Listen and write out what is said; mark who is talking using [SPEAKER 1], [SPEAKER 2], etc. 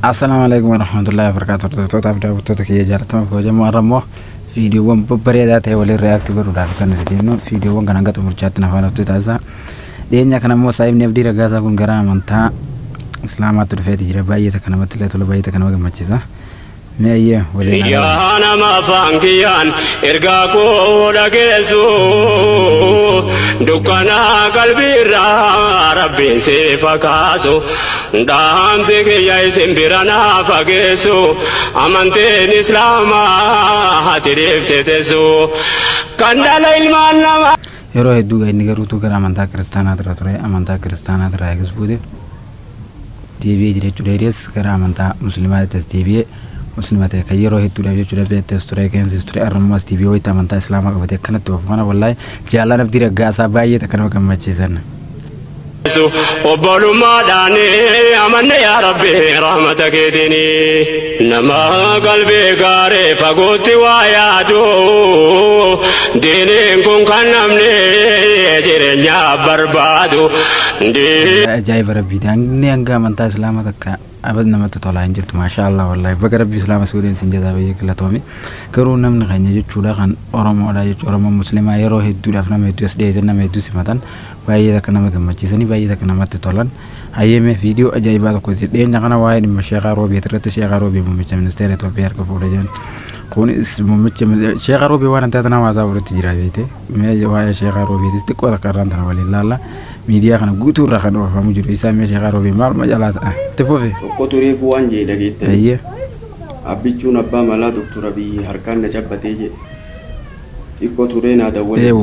[SPEAKER 1] Assalaamu alaikum warahmatullahi wabarakatuh hordoftootaafi daawwattoota kiyya jaalatamaa kabajamoo har'a immoo viidiyoowwan babbareedaa ta'e waliin react godhuudhaaf kan nuti deemnu viidiyoowwan kana hanga xumurchaatti naaf hordofaa turtii taasisaa dhiyeenya kana immoo saahibni abdii ragaasaa kun gara amantaa islaamaatti dhufeeti jira baay'ee takka namatti illee tola baay'ee takka nama gammachiisa Mee ayyee waliin haa laallu. Yaa nama afaan
[SPEAKER 2] kiyyaan ergaa koo dhageessu dukkana qalbiirraa rabbiin siif haa kaasu dhaamsi kiyya isin bira naa fageessu amanteen islaamaa hati dhiifte teessu kan dhala ilmaan namaa. Yeroo hedduu
[SPEAKER 1] gaa inni garuu utuu gara amantaa kiristaanaatirra ture amantaa kiristaanaatirraa eegas buute. deebi'ee jira jechuudha. Hiriyees gara amantaa musliimaatti as deebi'ee musliima ta'e kan yeroo hedduudhaaf jechuudha beetti as ture keensis ture arrammoo as deebi'ee wayita amantaa islaamaa qabate akkanatti oofu kana wallaahi jaallaan abdii raggaasaa baay'ee takka nama gammachiisan. obbolummaadhaan amanne yaa rabbi rahmata keetiini. Nama qalbii gaaree fagootti waa yaadu diiniin kun kan namni jireenyaa barbaadu. Wallahi ajaa'iba rabbii daangnee hanga amantaa islaama takka abad namatti tolaa hin jirtu maashaa allah wallahi baga rabbii islaama si godheen sin jazaa bayyee galatoomi garuu namni keenya jechuudha kan oromoodha jechuu oromoo muslimaa yeroo hedduudhaaf nama hedduu as dhiyeessan nama hedduu simatan baay'ee takka nama gammachiisanii baay'ee takka namatti tolan Hayyee mee viidiyoo ajaa'ibaa tokko dhiyeenya kana waa'ee dhimma Sheekaa Roobeet irratti Sheekaa Roobee muummicha ministeera Itoophiyaa harka fuudhe jedhan. Kunis muummicha Sheekaa Roobee waan addaa tanaa hawaasaa walitti jira beekte. Mee waa'ee Sheekaa Roobeetis xiqqoo takka irraan tana waliin laalla. Miidiyaa kana guutuu irraa kan oofamu jiru isaa mee Sheekaa Roobee maaluma jalaa ta'a? Itti fufi. Tokko tureefuu waan
[SPEAKER 3] jedhe dhageettanii. Hayyee. Abbichuun abbaa malaa Doktor Abiyyi harkaan na cabbatee jedhe. Xiqqoo turee naa dawwale. Eewwa.